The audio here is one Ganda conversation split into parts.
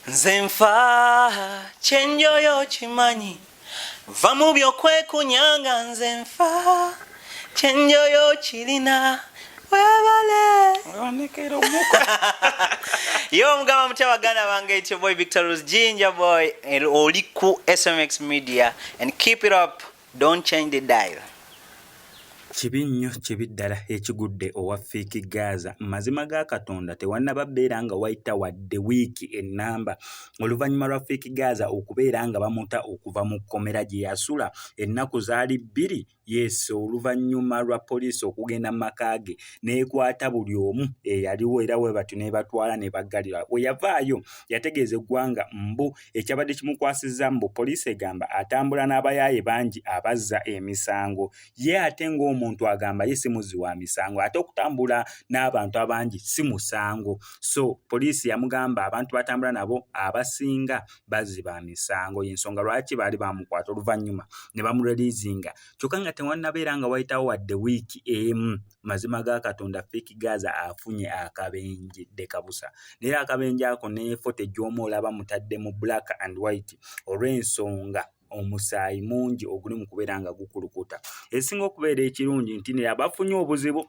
nze nfa kyenjoyo kimanyi va mu byokwekunyanga nze nfa kyenjoyo kirina webale yo omugamba mutya baganda bange ityo boy victor rose ginger boy oli ku smx media and keep it up don't change the dial kibi nnyo kibi ddala ekigudde owa fiiki gaaza mazima ga katonda tewannaba beera nga wayita wadde wiiki ennamba oluvannyuma lwa fiiki gaaza okubeera nga bamuta okuva mu kkomera gye yasula ennaku zaali bbiri Yes oluvannyuma lwa poliisi okugenda mu maka ge n'ekwata buli omu eyaliwo era bwe batyo n'ebatwala ne baggalirwa we yavaayo yategeeza eggwanga mbu ekyabadde kimukwasizza mbu poliisi egamba atambula n'abayaaye bangi abazza emisango ye ate ng'omuntu agamba ye si muzzi wa misango ate okutambula n'abantu abangi si musango so poliisi yamugamba abantu batambula nabo abasinga bazzi ba misango y'ensonga lwaki baali bamukwata oluvannyuma ne bamureliizinga kyokka nga tewannabeera nga wayitawo wadde wiiki emu mazima ga katonda fik gaza afunye akabenje dekabusa naye akabenje ako ne foto egy'omu olaba mutadde mu black and white olw'ensonga omusaayi mungi oguli mu kubeera nga gukulukuta esinga okubeera ekirungi nti ne abafunye obuzibu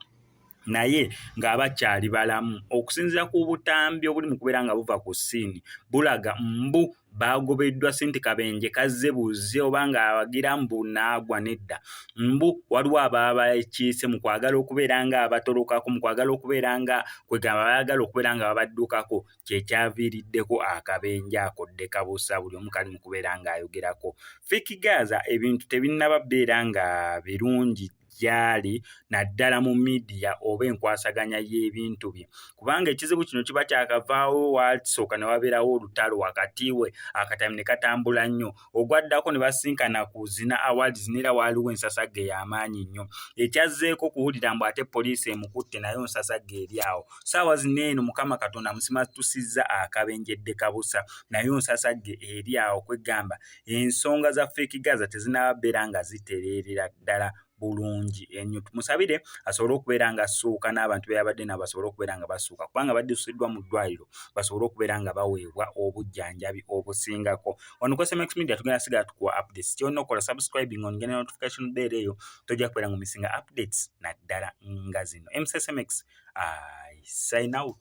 naye ng'abakyali balamu okusinziira ku butambi obuli mu kubeera nga buva ku ssiini bulaga mbu baagobeddwa sente kabenje kazze buzze oba ng'awagira mbu naagwa nedda mbu waliwo abaabakiise mu kwagala okubeera ng'abatolokako mu kwagala okubeera nga kwegamba baagala okubeera nga babaddukako kye kyaviiriddeko akabenja akodde kabuusa buli omu kali mu kubeera ng'ayogerako fik gaza ebintu tebinnaba beera nga birungi gy'ali naddala mu midiya oba enkwasaganya y'ebintu bye kubanga ekizibu kino kiba kyakavaawo waasooka ne wabeerawo olutalo wakati we akatami ne katambula nnyo ogwaddako ne basinkana ku zina awards neera waaliwo ensasagge y'amaanyi nnyo ekyazzeeko kuwulira mbu ate poliisi emukutte nayo nsasagge eri awo saawa zino eno mukama katonda musimatusizza akabenjedde kabusa nayo nsasagge eri awo kwegamba ensonga za feeki gaza tezinaaba beera nga zitereerera ddala bulungi enyo tumusabire asobole okubeera nga asuuka n'abantu be yabadde nabo basobole okubeera nga basuuka kubanga baddusiddwa mu ddwaliro basobole okubeera nga baweebwa obujjanjabi obusingako ono ku sms media tugenda sigala tukuwa updates kyolina okukola subscribing on genda notification bell eyo tojja kubeera nga omisinga updates naddala nga zino msmx i sign out